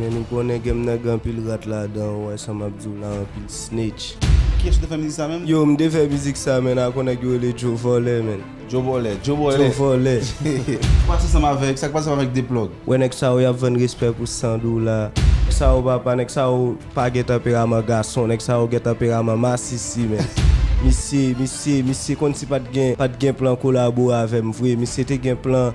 Men nou konnen game nan gen anpil rat ladan ou wè sa map diw la anpil snitch. Kiyès ou te fè mizik sa menm? Yo m te fè mizik sa menn ak yon nèg yo rele Djo Vòlè menn. Djo Bòlè, Djo Bòlè. Djo Vòlè. Sak pase ansanm avèk, sak pase ansanm avèk Deplòg? Wè nèg sa yo yap vann respè pou 100 dola. Nèg sa yo papa, nèg sa yo pa gen tanperaman gason, nèg sa yo gen tanperaman masisi menn. Misye, misye, misye konn si pat gen, pat gen plan kolabo avèm vre, misye te gen plan.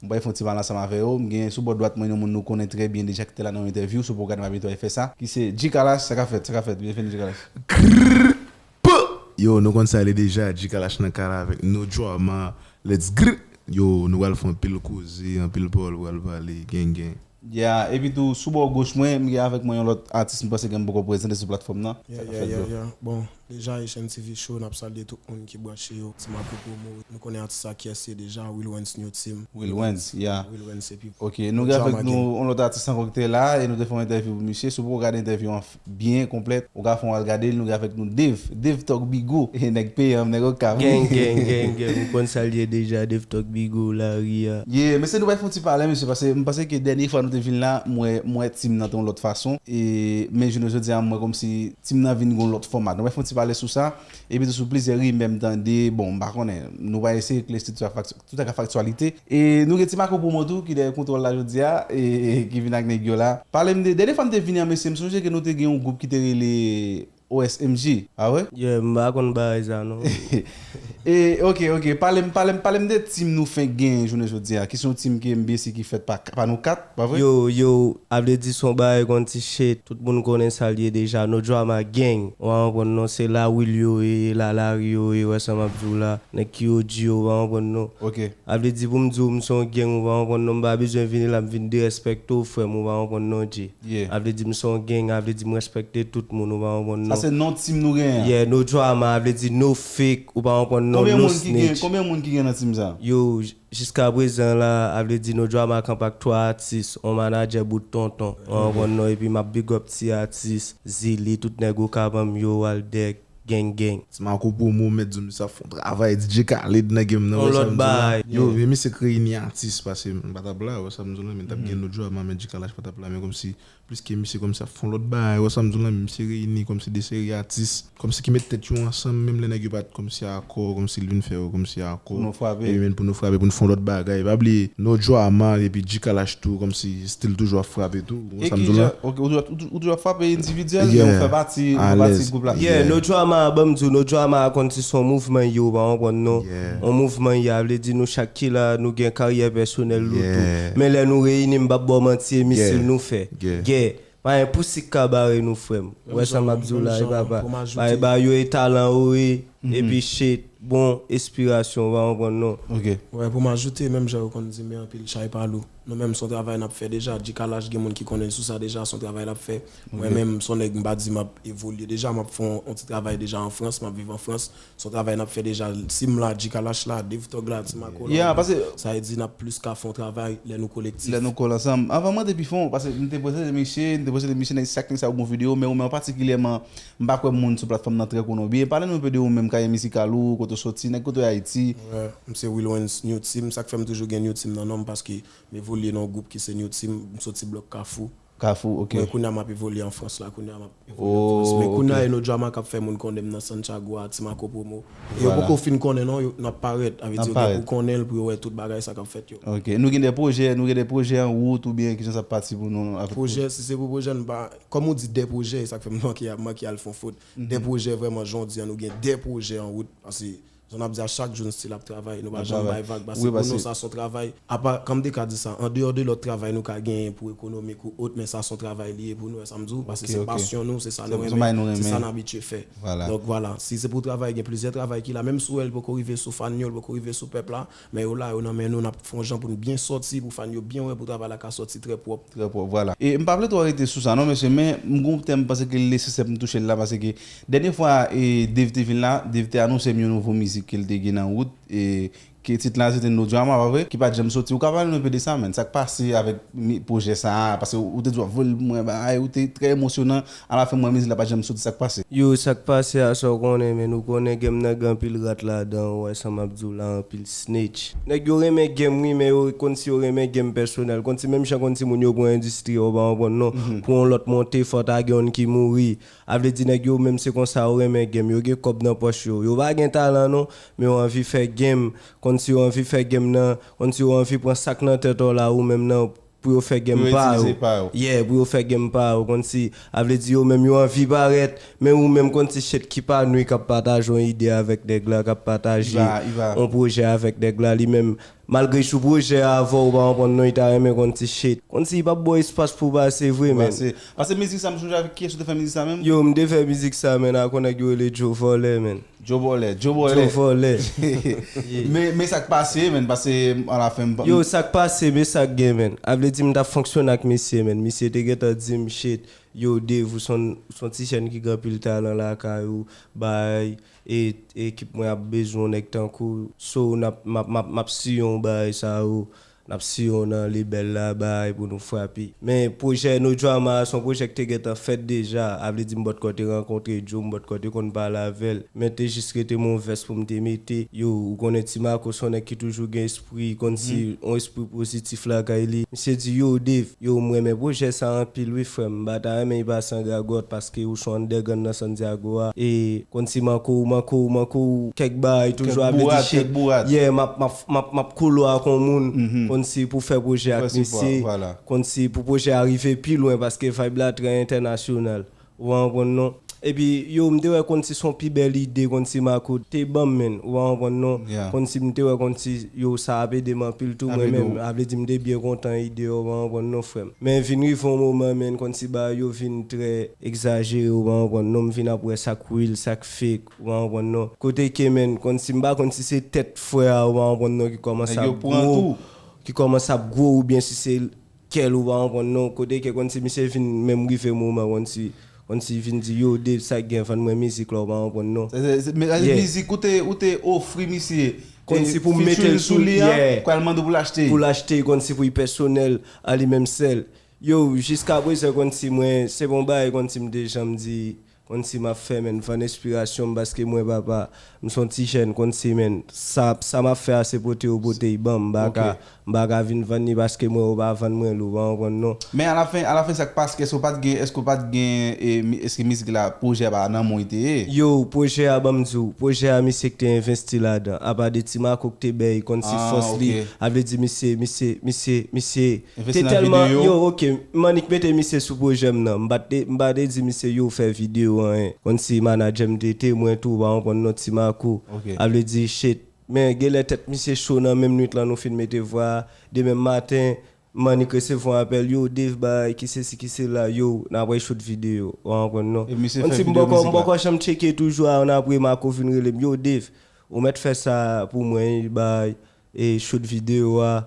M pral fè yon ti mal ansanm avè yo. M gen sou bò dwat mwen yon moun nou konnen trè byen deja ki te la nan yon entèvyou sou pwogram Mami Toy fè sa, ki se G-Kalash, sa ka fèt, sa ka fèt, byenveni G-Kalash. Grrrppp Yo nou konn sa le deja G-Kalash nan kay la avèk nou Drama Let's grrrp Yo nou pral fè anpil koze, anpil pawòl pral pale, gen gen. Yeah epitou sou bò goch mwen m gen avèk mwen yon lòt atis m panse ke m poko prezante sou platfòm nan. Yeah yeah yeah yeah bon deja Haitian TV show nap salye tout moun ki branche yo ti Marco promo nou konnen atis sa kiyès se deja Wilwens new team Wilwens yeah Wilwens epi ok nou gen avèk nou yon lòt atis ankò kite la e nou te fè yon entèvyou pou misye si w poko gade entèvyou an byen konplèt ou ka fon al gadel nou gen avèk nou Dave Dave talk bigo nèg peyanm nèg okap wi. Geng geng geng geng ou konn sal ye deja Dave talk bigo lari a. Yeah mesye nou bay fon ti pale mesye pase m panse ke dènye fwa nou te vin la m wè m wè team nan te yon lòt fason e men jounen jodi a m wè kòmsi team nan vin gon lòt fòma nou bay fon ti pale sou sa epitou sou plizyè rimè m tande bon m pa konnen nou pa eseye klè estrikti a fak Tout ak faktyalite. E nou gen ti Marco Promo tou ki dèyè kontwòl la jodi a e ki vin ak nèg yo la. Pale m de, dènye fwa m te vini an mesye m sonje ke nou te gen yon gwoup ki te rele OSMG, pa vre? Yeah, m pa konn bagay sa non. E ok, ok, pale m, pale m, pale m de team nou fenk genyen jounen jodi a, ki se yon team ke m byen si ki fèt pa nou 4. Pa vre? Yow yow a vle di son bagay kon ti shit tout moun konnen sal ye deja no drama gang ou pa konprann non se la will yo ye la lari yo ye wè sa map diw la nèg ki og yo ou pa konprann non Ok. a vle di poum diw m son gang ou pa konprann non m pa bezwen vini la m vin derespèkte w frèm ou pa konprann non Dje Yeah. a vle di m son gang a vle di m respèkte tout moun ou pa konprann Sa non se non team nou genyen an. yeah no drama a vle di no fake ou pa konprann non Konbyen no moun ki gen snitch konbyen moun ki gen nan team sa? yow Jiska prezan la a vle di no drama camp ak 3 atis on manadjè bout tonton an an konn non epi map big up ti atis zili tout nèg okap anm yo waldec geng geng. Ti Marco promo mèt zombi sa ap fon travay DJ Khaled nan game nan wè sam di la yo vye misye k reyini atis pase m patap la wè sam di w la men tap gen no drama men djkalash patap la men komsi Pliske misye kòmsi ap fon lòt bagay, wè sam di w la, misye reyini kòmsi 2 seri atis, kòmsi ki met tèt yo ansanm menm lè nèg yo pat kòmsi akò, kòmsi li vin fè yo kòmsi akò, epi menn pou nou frape pou nou fon lòt bagay, pa bliye No Drama epi G-Kalash tou kòmsi stil toujou ap frape tou, wè sam di w la. Ok ou toujou ap frape endividyèl men ou fè pati gwoup la. Yeah No Drama a banm di w No Drama a konn ti son mouvman yo ou pa konprann non. On mouvman ya vle di nou chak ki la nou gen karyè pèsonèl nou tou. Men lè nou reyini m pap ba w manti e misil nou fè. Gè. Pa gen pousik ka bare nou frè m. Ou wè sa map di w la wi papa. Bay ba yo e talan ou e epi shit bon espirasyon ou pa konprann non. Wè pou m ajoute menm jan yo konn di men anpil chay pa lou. Nou menm son travay nap fè deja. Djikalash gen moun ki konnen l sou sa deja son travay lap fè. Mwen menm son nèg m pa di map evolye deja map fè on ti travay deja an Frans map viv an Frans Son travay nap fè deja sim la Gcallash la Dave Tog la Timaco la Yeah pase Sa vle di nap plis ka fon travay lè nou kolektif. Lè nou kole ansanm. Anvan mande pi fon pase m te presente misye m te presente misye nèg sak nèg sa yo gon video men ou menm an patikilyèman m pa kwè moun sou platfòm nan trè konnen w byen pale nou enpe de ou menm karyè mizikal ou kote w soti nèg kote w ye Ayiti. M se Wilwens New Team sak fè m toujou gen New Team nan non m paske m evolye nan yon gwoup ki se New Team m soti blòk kafou. Kafou ok. Mwen kounya map evolye an frans la kounya map evolye an frans men kounya e no drama kap fè moun konnenm nan santiago a ti mako promo e yo poko fin konnen non yo nap parèt avè di yo gen pou konnen l pou yo wè tout bagay sa kap fèt yo. Ok nou gen de projè nou gen de projè an wout ou byen kijan sa pati pou nou. Projè si se pou projè nou pa kòm ou di de projè e sak fèm manke manke al fon fot de projè vrèman jan w di an nou gen de projè an wout pase Jan nap di a chak jou n still ap travay nou pa janm bay vag pase pou nou sa son travay apa kòm deka di sa andeyò de lòt travay nou ka genyen pou ekonomik ou ot men sa son travay li ye pou nou wè sam di w pase se pasyon nou se sa nou renmen se sa n abitye fè donk vwala si se pou travay gen plizyè travay ki la menm si w wè li poko rive sou fan yo li poko rive sou pèp la Men yo la yo nan men nou nap fon jan poun byen sòti pou fan yo byen wè pou travay la ka sòti trè pwòp. Trè pwòp vwala. E mpa vle twò rete sou sa non mesye men mgon ptè mpase ke li nesesè poum touchel la pase ke dènye fwa e Dave te vin la Dave te anonsem yon nouvo mizik kel te gen nan wout e ke tit la sete No Drama pa vre ki pat janm soti ou ka pale nou enpe de sa man sak pase avèk pwojè sa pase ou te di wap voyel pou mwen bagay ou te trè emosyonan A la fen mwen mizik la pa janm soti sak pase. Yo sak pase a sa w konnen menn ou konnen game nan gen anpil rat ladan ou wè sa map di w la anpil snitch. Nèg yo renmen game wi men yo konn si yo renmen game pèsonèl konn si menm jan konn si moun yo pran industrie a ou pa konprann non pou yon lòt monte fò ta gen youn ki mouri a vle di nèg yo menm se konsa yo renmen game yo gen kòb nan pòch yo yo pa gen talan non men yo anvi fè game konn si yo anvi fè game nan konn si yo anvi pran sak nan tèt ou la ou menm nan Pou yo fè gèm pa yo. Yeah, pou yo fè gèm pa yo. Konn si, a vle di yo menm yo anvi parèt, men ou menm konn si chet ki pa nou k ap pataje yon ide avèk nèg la, k ap pataje yon pwojè avèk nèg la, li menm, malgre li sou pwojè a avè w, ou pa konprann non, li ta renmen konn si chet. Konn si li pa p ba w espas pou w pase vre menn. Pase mizik sa, m sonje avèk kiyès ou te fè mizik sa menm? Yo, m te fè mizik sa menn ak yon nèg yo rele Djo Vòlè menn. Djo vòlè, djo vòlè. Djo vòlè. Men sak pase menn pase a la fen m pa. Yo sak pase men sak gen menn. A vle di m tap fonksyone ak misye menn. Misye te gentan di m shit yo Dave ou son ti jèn ki gen anpil talan lakay ou bay e ekip mwen ap bezwen yon nèg tankou w so map siyon w bagay sa yo Nap siye w nan Lebèl la bay pou nou frape. Men pwojè No Drama a son pwojè k te gentan fèt deja, avle di m bòt kò te rankontre Djo, m bòt kò te konn pale avè l, men te jis rete m on vès pou m te mete. Yo, ou konnen Ti Mako son nèg ki toujou gen espri, konn si on espri pozitif lakay li. Misye di, Yow Dave, yow m renmen pwojè sa a anpil wi frè m, m pa ta renmen li pa san gagòt, paske ou son underground nan Santiago a, e konn si Mako, Mako, Mako, kèk bagay toujou, avle di shit, yeah, m ap, m ap. Map map kolo ak yon moun konn si pou fè pwojè ak misye konn si pou pwojè a rive pi lwen paske vibe la trè entènasyonal ou pa konprann non epi yo m te wè konn si son pi bèl ide konn si makout te banm menn ou pa konprann non konn si m te wè konn si yo sa ap ede m anpil tou mwen menm a vle di m te byen kontan ide yo ou pa konprann non frè m men vin rive yon moman menn konn si bagay yo vin trè egzajere ou pa konprann non m vin ap wè sak real sak fake. Ou pa konprann non. Kote Kmène konn si m pa konn si se tèt frè a ou pa konprann non ki kòmanse ap gwo ki kòmanse ap gwo oubyen si se kè l ou pa konprann non kote ke konn si misye vin menm rive moman konn si konn si vin di yo Dave sa k gen vann mwen mizik la ou pa konprann non yeah mizik ou te ou te ofri misye konn si pou m mete l sou li a yeah pral mande w pou l achte pou l achte konn si pou li pèsonèl a li menm sèl yow jiskaprezan konn si mwen se pa yon bagay konn si m te janm di Konn si map fè menn fann enspirasyon m paske mwen papa m son ti jèn konn si menn sa sa map fè a se pote yo pote y banm m pa ka m pa ka vin vann li paske mwen yo pa vann mwen l ou pa konprann non. Men alafen alafen sak pask eske w pat gen eske w pat gen eske mizik la pwojè pa nan menw li te ye. Yow pwojè a banm di w pwojè a misye k te envesti ladan apa de ti mako k te bèy konn si fòs li a vle di misye misye misye misye Te telman yo ok m annik mete misye sou projèm nan m pa te di misye yo fè video anyen konn si manadjèm te temwen tou ou pa konprann non ti makou a vle di shit men genlè tèt misye cho nan menm nwit lan nou fin mete vwa a demen maten m annik resevwa apèl yo Dave bagay ki sesi ki sela yow n apre shoot video ou pa konprann non konn si m poko m poko janm tcheke toujou a an apre makou vin rele m yow Dave ou mèt fè sa pou mwen wi bagay E shoot video a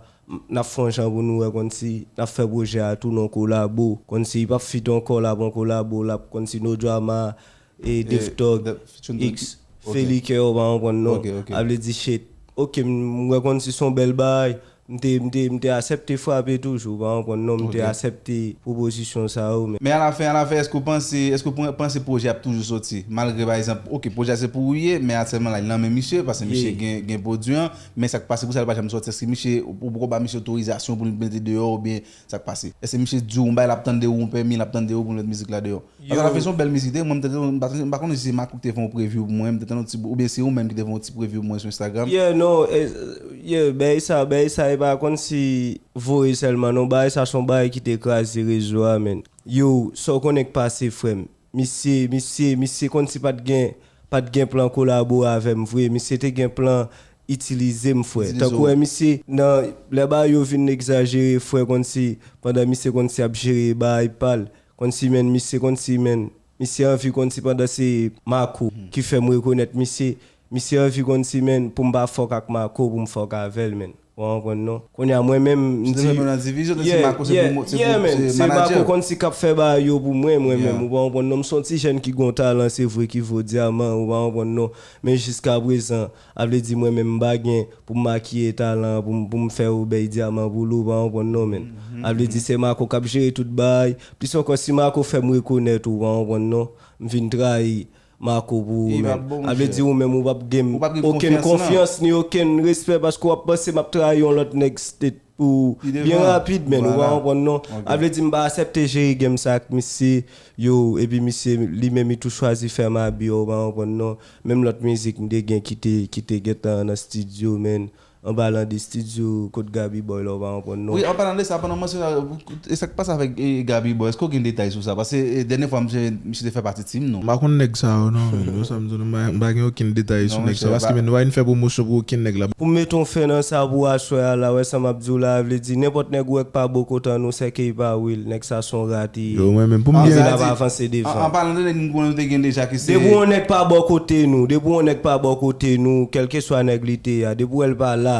nap fon jan pou nou wè konn si nap fè projè a tou non kolabo konn si pap feat ankò lap an kolabo lap konn si no drama e defthug ix feli kè ou pa konprann non a vle di shit ok m wè konn si son bèl bagay m te m te m te asèpte frape toujou ou pa konprann non m te asèpte. pwopozisyon sa yo men. Men a la fen a la fen eske ou panse eske ou panse pwojè ap toujou soti malgre pa egzanp ok pwojè a se pou ou ye men asèlman la li nan men misye pase misye gen gen pwodwi an men sak pase pou sa li pa janm soti eske misye ou poko ba misye otorizasyon pou l mete deyò oubyen sak pase eske misye di w yon bagay lap tande ou yon pèmi lap tande ou pou l met mizik la deyò. Yo. Atata fè son bèl mizik dèyè mwen mte tann m pa konnen si se Makou ki te fè yon preview pou mwen mte tann yon ti ou byen se ou menm ki te fè yon ti preview pou mwen sou Instagram. Yeah non yeah bèy sa bèy sa epa konn si voye sèlman non bagay sa son bagay ki te kraze rezo a menn yo sa w konnen k pase frèm misye misye misye konn si pat gen pat gen plan kolabore avèm vre misye te gen plan itilize m frè Itilize tankou w. wè misye nan lè bagay yo vin egzajere frè konn si pandan misye konn si ap jere bagay pal Konsi menn misye konsi menn misye anvi konsi pandan se Marco ki fèm rekonèt misye misye anvi konsi menn poum pa fòk ak Marco poum fòk avèl menn wa konprann non kounya mwen menm mdi yeah yeah yeah menn se Marco konsi kap fè bagay yo pou mwen mwen menm ou pa konprann non mson ti jèn ki gon talan se vre ki vo dyaman ou pa konprann non men jiska prezan A vle di mwen menm m pa gen pou m makiye talan an pou m pou m fè ou bèy dyaman pou li w pa konprann non menn. A vle di se Marco k ap jere tout bagay, plis ankò si Marco fè m rekonèt ou pa konprann non, m fin trayi Marco pou ou menn. A vle di ou menm ou p ap gen m okenn konfyans ni okenn respè paske w ap panse m ap trayi yon lòt nèg state. Pou byen rapid men ou pa konprann non a vle di m pa asèpte jere game sa ak misye yo epi misye li menm li tou chwazi fè m abi ou pa konprann non menm lòt mizik m te gen ki te ki te gentan nan studio men anpalan de studio kot Gaby boy la ou pa konprann non. Wi anpalan de sa pandan w mansyon sa E sak pase avèk Gaby boo eske w gen detay sou sa pase dènye fwa misye misye te fè pati team nou. M pa konn nèg sa yo non men yo sa m di w non m pa gen okenn detay sou nèg sa yo paske men nou pa vin fè pwomosyon pou okenn nèg la. Poum met yon fen nan sa pou aswè a la wè sa map diw la vle di nenpòt nèg ou wè k pa bon kontan nou sè key pa will nèg sa son rat li ye li vin ap avanse devan an palan de nèg nou konnen nou te gen deja ki se depi yon nèg pa bò kote nou depi yon nèg pa bò kote nou kelkeswa nèg li te a depi w wèl pa la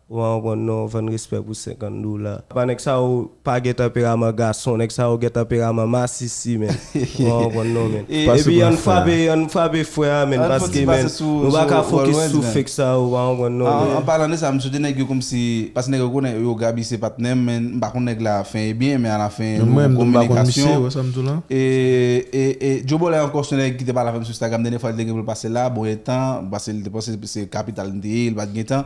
Ou an ron non vann respè pou 50 dola. Apa nèg sa yo pa gen tanperaman gason nèg sa yo gen tanperaman masisi menn ou an ron non menn epi ann frape ann frape frè a menn paske menn nou pa ka fokis sou fake sa yo ou an ron non menn. An palan de sa m swete nèg yo komsi paske nèg yo konnen yo Gaby se patnè m men m pa konn nèg la fen e byen men alafen nou an kominikasyon e Jobolè ankò se yon nèg ki te pale avè m sou Instagram dènye fwa li te gen pou l pase la bon etan paske li te panse se kapital m te ye li pa t gen tan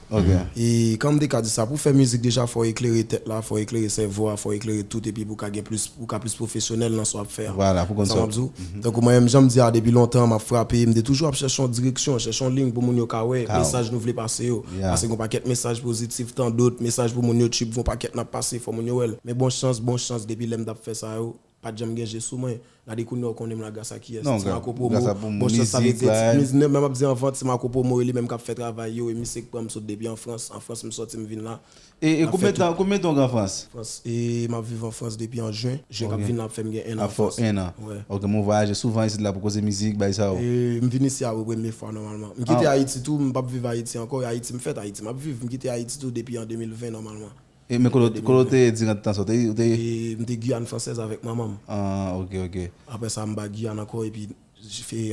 Ok. E kan m te ka di sa, pou w fè mizik deja fò w eklere tèt la, fò w eklere sèvo a, fò w eklere tout epi pou w ka gen plis, pou w ka plis pwofesyonèl nan sa w ap fè a. Vwala, pou w konn sa w ap di w. Tankou mwen menm jan m di a depi lontan m ap frape, m te toujou ap chèche yon direksyon, chèche yon liy pou moun yo ka wè mesaj nou vle pase yo. Pase gen yon pakèt mesaj pozitif, tandot mesaj pou moun yo tchip gen yon pakèt n ap pase fò moun yo wè l. Men bon chans, bon chans depi lè m t ap fè sa yo, Pat janm gen je sou mwen. Gade kounya ou konnen m la gras a kiyès? Non, gras a pou mizik la. Menm map di anvan ti Marco Promo e li menm kap fè travay yo e misye k pran m sot depi an Frans, an Frans m sòti m vin la. E konbyen tan, konbyen tan ou gen an Frans? Frans, e map viv an Frans depi an jen, jen kap vin la ap fè m gen 1 an an Frans. Ap fè w 1 an. Wè. Ok men ou vwayaje souvan isit la pou koze mizik, bagay sa yo? M vin isi a pou premye fwa nòmalman. M kite Ayiti tou, m pap viv Ayiti ankò e Ayiti m fèt, Ayiti map viv. M kite Ayiti tou depi an 2020 nòmalman. E men kote ou te ye diran tan sa ou te ye? M te Guyane Française avèk manman m. Ah ok ok. Aprè sa m ba Guyane ankò epi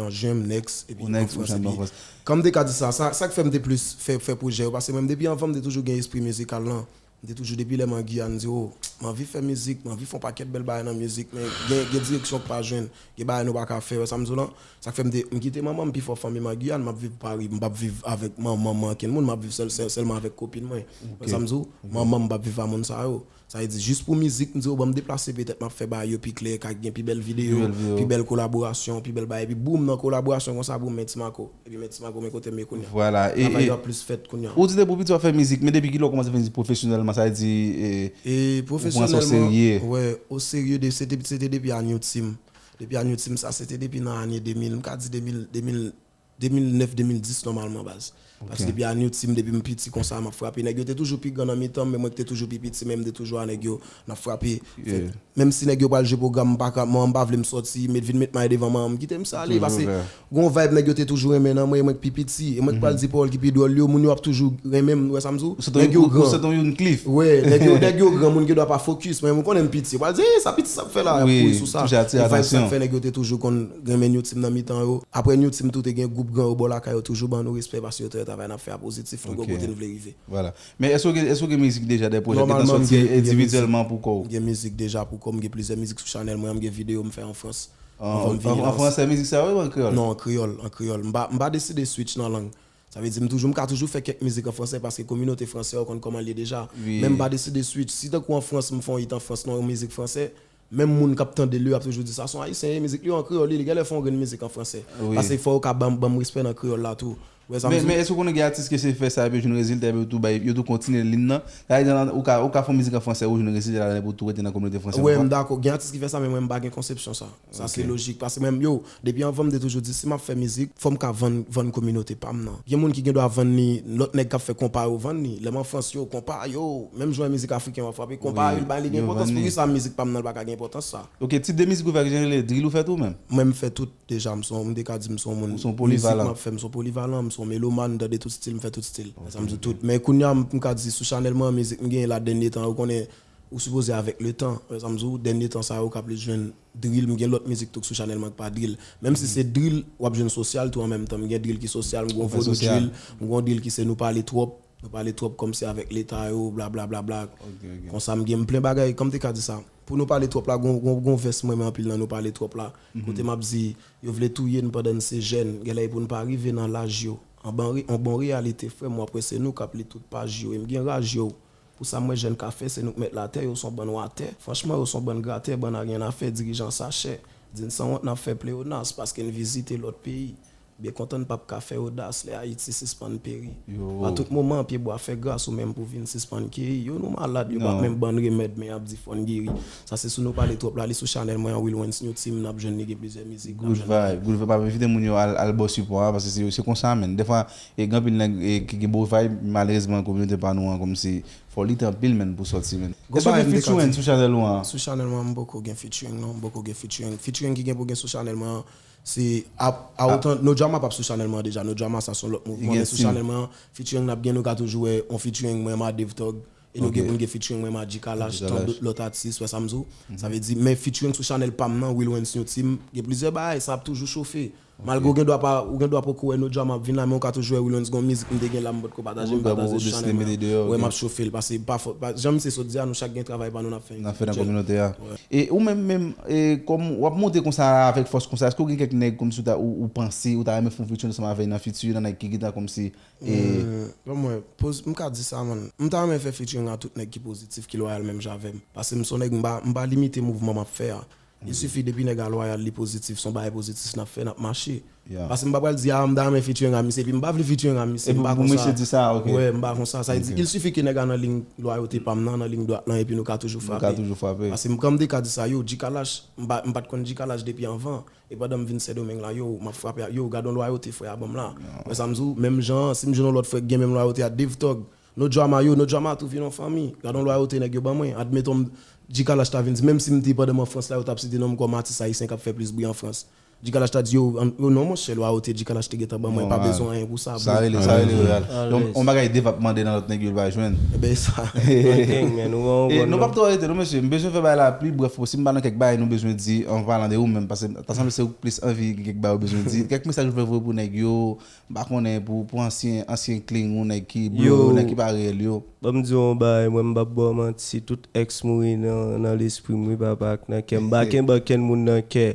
an jen m next epi an France epi kan m te ka di sa sa k fè m te plis fè pwojè yo paske menm depi anvan m te toujou gen espri mizikal lan m te toujou depi lè m an Guyane m di oh m anvi fè mizik m anvi fè yon pakèt bèl bagay nan mizik men gen direksyon ou k pa jwenn gen bagay nou pa ka fè ou wè sa m di w lan Sak fèm te m kite manmanm pifò fanmim an Guyane map viv Paris m pap viv avèk manmanm ankenn moun map viv sèl sèlman avèk kopin mwen konprann sam diw manmanm m pap viv a moun sa yo sa vle di jis pou mizik m diw banm deplase petèt map fè bagay yo pi klè ka gen pi bèl video pi bèl kolaborasyon pi bèl bagay epi boom nan kolaborasyon konsa boom men Timaco epi men Timaco men kotem ye kounya travay yo ap plis fèt kounya. Ou di depi ou piti wap fè mizik men depi kilè ou kòmanse fè mizik pwofesyonèlman sa vle di ou pran sa o serye? Pwofesyonèlman wè o serye se te depi a New Team Depi ane ti m sa se te depi nan ane 2000 m ka di 2000 2000 2009 2010 nòmalman baz. Paske depi ane ti m depi m piti konsa m ap frape nèg yo te toujou pi gran nan mitan m men mwen k te toujou pi piti men m te toujou a nèg yo n ap frape fèt menm si nèg yo pral jwe pwogram m pa ka man m pa vle m sòti met vin met may devan man m kite m sa ale pase Gon vibe nèg yo te toujou renmen nan mwen e mwen k pi piti e mwen k pral di pawòl ki pi dwòl yo moun yo ap toujou renmen m ou wè sa m di w nèg yo gran ou sot yon youn klif wè nèg yo nèg yo gran moun gen dwa pa fokis men m konnen m piti yo pral di eey sa piti sa ap fè la y ap kouri sou sa e vibe sa k fè nèg yo te toujou konn renmen new team nan mitan yo aprè new team tou te gen gwoup gran yo bò lakay yo toujou ban nou respè paske yo te wè travay n ap fè a pozitif nou gen kote n vle rive. Men èske w gen mizik deja dè pwojè ki sòti endividyèlman pou kò w? Nòmalman m gen mizik deja pou kò m gen plizyè mizik sou chanèl mwen an m gen videyo m fè an frans anvan m vini nan. An fransè mizik sa yo ou an kreyòl? Non, an kreyòl, an kreyòl. M pa, m pa deside switch nan lang. Sa vle di m toujou, m ka toujou fè kèk mizik an fransè paske kominote fransè yo konn kòman l ye deja. Men m pa deside switch. Si tankou an Frans m fè yon it an Frans nan yon mizik fransè, menm moun k ap tande l yo ap toujou di sa s on ayisyen ye, mizik li yo an kreyòl li, li genlè fè yon grenn mizik an fransè. Pase fò yo ka ban m respè nan kreyòl la tou. Men èske ou konnen gen atis ke se fè sa epi yo jwenn rezilta epi yo tou bay yo tou kontinye lin nan? Sa vle di nan ou ka ou ka fè yon mizik an fransè ou jwenn rezilta ladan epi ou tou rete nan kominote fransè Wè m dakò gen atis ki fè sa men mwen m pa gen konsepsyon sa Sa se lojik paske mwen yo depi anvan m te toujou di si m ap fè mizik fò m ka vann vann kominote pa m nan Gen moun ki gen dwa vann li lòt nèg k ap fè konpa yo vann li Lè m an Frans yo konpa yo menm jan mizik afriken yo ap frape konpa yo bay li gen enpòtans Poukisa mizik pa m nan l pa ka gen enpòtans sa? Ok tip de mizik ou fè ki jan li rele drill ou fè tou menm? Mwen m fè tout. Deja m son, m te ka di m son moun. Ou son polivalan. Mizik m ap fè, m son polivalan, m son melomàn, m tande tout stil, m fè tout stil. Fè sa m di tout. Men kounya m ka di sou chanèl mwen an mizik m genyen la dènye tan yo konnen ou sipoze avèk le tan. Fè sa m di ou, dènye tan sa yo ou ka plis jwenn drill, m gen lòt mizik tou k sou chanèl mwen k pa drill. Menm si se drill, w ap jwenn sosyal tou an menm tan. M gen drill ki sosyal, m gon vodou drill, m gon drill ki se nou pale twòp, nou pale twòp kòmsi avèk leta yo, bla bla bla bla. Konsa m gen, m plen bagay, kòm m te ka di sa. Pou nou pale twòp la gon vès mrenmen anpil nan nou pale twòp la kote map di yo vle touyen pandan n se jèn genlè epou n pa rive nan laj yo anban yon bon reyalite frè m wap wè se nou kap li tout paj yo e m gen raj yo pou sa m wè jèn ka fè se nou k mèt latè yo son bann watè franchman yo son bann gratè bann aryennafè dirijan sachè di n sanwont nap fè pleyonas paske n vizite lòt peyi Byen kontan n pap ka fè odas lè Ayiti sispann peri A tout moman pye bwa fè gras ou menm pou vin sispann keri yo Nou malad yo pa menm bann remèd men yap di fò n geri Sa se sou nou pale twòp la li sou chanèl mwen an Wilwens New Team nap jwenn li gen plizyè mizik nap jwenn li Good vibe map envite moun yo al baw sipò a paske se konsa menn dèfwa gen anpil nèg ki gen bon vibe malerezman kominote pa nou an kòmsi fò w lit anpil menn pou w sòti menn Èske w gen featuring sou chanèl ou an? Sou chanèl mwen an m poko gen featuring non m poko gen featuring Featuring ki gen pou gen sou chanèl mwen an Se ap a otan No Drama pap sou chanèl mwen an deja No Drama sa son lòt mouvman men sou chanèl mwen an featuring nap gen nou ka toujou wè on featuring mwen ma Dave Tog e nou gen pou n gen featuring mwen ma G-kalash tan dout lòt atis wè sa m di w sa vle di men featuring sou chanèl pa m nan Wilwens New Team gen plizyè bagay sa ap toujou chofe malgre ou gen dwa pa ou gen dwa poko wè No Drama ap vin la men ou ka toujou wè Wilwens gon mizik m te gen la m potko pataje m pataje sou chanèl mwen an wè m ap chofe l pase pa fo jan misye sot di a nou chak gen travay pa nou n ap Nap fè nan kominote a. E ou menm menm e kòm wap monte konsa a avèk fòs konsa èske ou gen kèk nèg kòmsi ou ta ou panse ou ta renmen fè yon featuring ansanm avè nan fiti nan nèg ki gentan kòmsi e. Bon mwen poz m ka di sa man m ta renmen fè featuring a tout nèg ki pozitif ki lwayal menm jan avèm pase m son nèg m pa m pa limite mouvman map fè a Li sifi depi nèg a lwayal li pozitif son bagay pozitis nap fè nap mache pase m pa pral di a m ta renmen featuring a misye epi m pa vle featuring a misye m pa konsa wè m pa konsa sa vle di il sifi ke nèg a nan lign lwayote pam nan nan lign dwat lan epi nou ka toujou frape pase m kan m te ka di sa yow G-kalash m pat konn G-kalash depi anvan e pandan m vin sendomeng la yow map frape ak yow gadon lwayote frè a banm la wè sa m di w menm jan an si m jwenn yon lòt frè ki gen menm lwayote a devtòg No drama yo, no drama tou vin yon fanmi. Gadon lwayote nèg yo ban mwen. Admeton m Dji Kalash ta vin di menm si m di pandan m an Frans la yo t ap site non m kòm atis ayisyen k ap fè plis bri an Frans. Dji Kalash ta di yo yo non monchè lwayote Dji Kalash te gentan ban mwen pa bezwen anyen pou sa bro. Sa rele loyal. Yon bagay Dave ap mande nan lòt nèg yo li pa jwenn. Ebyen e sa. Bon thing man, ou ban yon bon non. E nou pap twò rete non mesye, m bezwen fè bagay la pli brèf posib m pa nan kèk bagay nou bezwen di an palan de ou menm paske ta sanble se ou k plis anvi gen kèk bagay ou bezwen di. Kèk mesaj ou vle voye pou nèg yo, M pa konnen pou pou ansyen ansyen kling ou nèg ki blo yo nèg ki pa reyèl yo. Ban m di w yon bagay mwen m pap ba w manti tout èks mouri nan nan lespri m wi papa ak nan kè m m pa kenbe ankenn moun nan kè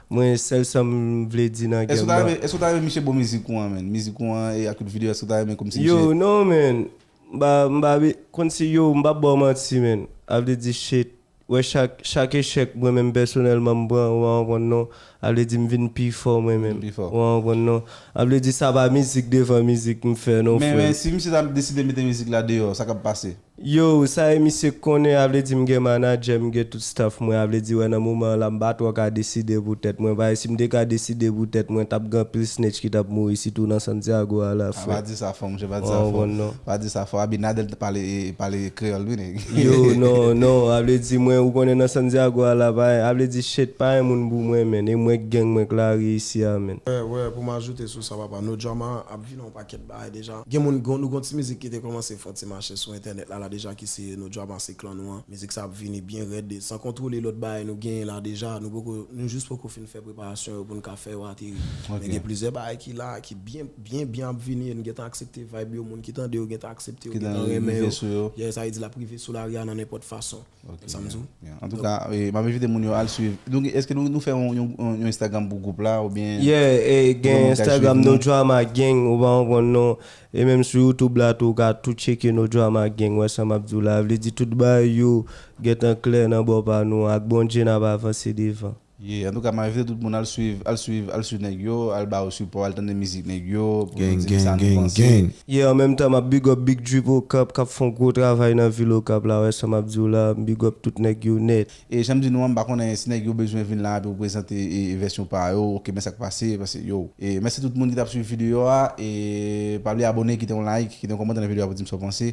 mwen sèl sa m vle di nan Èske gèm w ta nan. renmen èske w ta renmen misye bon mizik ou an menn mizik ou an e ak tout video èske w ta renmen kòmsi misye Yow non menn m pa m pa be konn si yow m pap ba w manti menn a vle di shit. Wè chak chak echèk mwen menm pèsonèlman m pran ou pa konprann non a vle di m vin pi fò mwen menm ou pa konprann non a vle di sa pa mizik devan mizik m fè non frè m. Men si misye ta deside mete mizik la deyò sa kap pase? Yow sa e misye konnen a vle di m gen manadjè m gen tout staff mwen a vle di wè nan moman an la m pa twò ka deside pou tèt mwen paske si m te ka deside pou tèt mwen tap gen anpil snitch ki tap mouri sitou nan Santiago a la frè m ou pa konprann non. Yo non non a vle di mwen ou konnen nan sandiago a la pa a vle di shit pa yon moun pou mwen menn e mwen k gang mwen k lari isi a menn. Wè wè pou m ajoute sou sa papa no drama ap vin yon pakèt bagay deja gen moun gon nou gon ti mizik ki te kòmanse fò ti mache sou entènèt la la deja ki se no drama se klan nou an mizik sa ap vini byen rèd e san kontwole lòt bagay nou genyen la deja nou poko nou jis poko fin fè preparasyon yo pou n ka fè yo ateri men gen plizyè bagay ki la ki byen Byen byen ap vini e nou gentan aksepte vibe yo moun ki tande yo gentan aksepte yo gentan renmen yo yes sa vle di lap rive sou lari a nan nenpòt fason konn sam diw. Antouka map envite moun yo al swiv eske nou fè yon instagram pou gwoup la oubyen Yeah gen instagram no drama gang ou pa konprann non e menm sou youtube la tou ou ka tou tcheke no drama gang wè sa map diw la vle di tout bagay yo gentan klè nan bò pa nou ak Bondye nap avanse devan. Yeah antouka m envite tout moun al swiv al swiv al swiv nèg yo al ba yo sipò al tande mizik nèg yo pou nou di m sa nou panse. Yeah an menm tan map big up big drip okap kap fon gwo travay nan vil okap la wè sa map diw la m big up tout nèg yo nèt. E janm di nou an m pa konnen si nèg yo bezwen vin la pou prezante vèsyon pa yo ok men sak pase pase yo e mèsi tout moun ki tap swiv video a e pa bliye abone kite yon like kite yon kòmantè nan video a pou dim sa w panse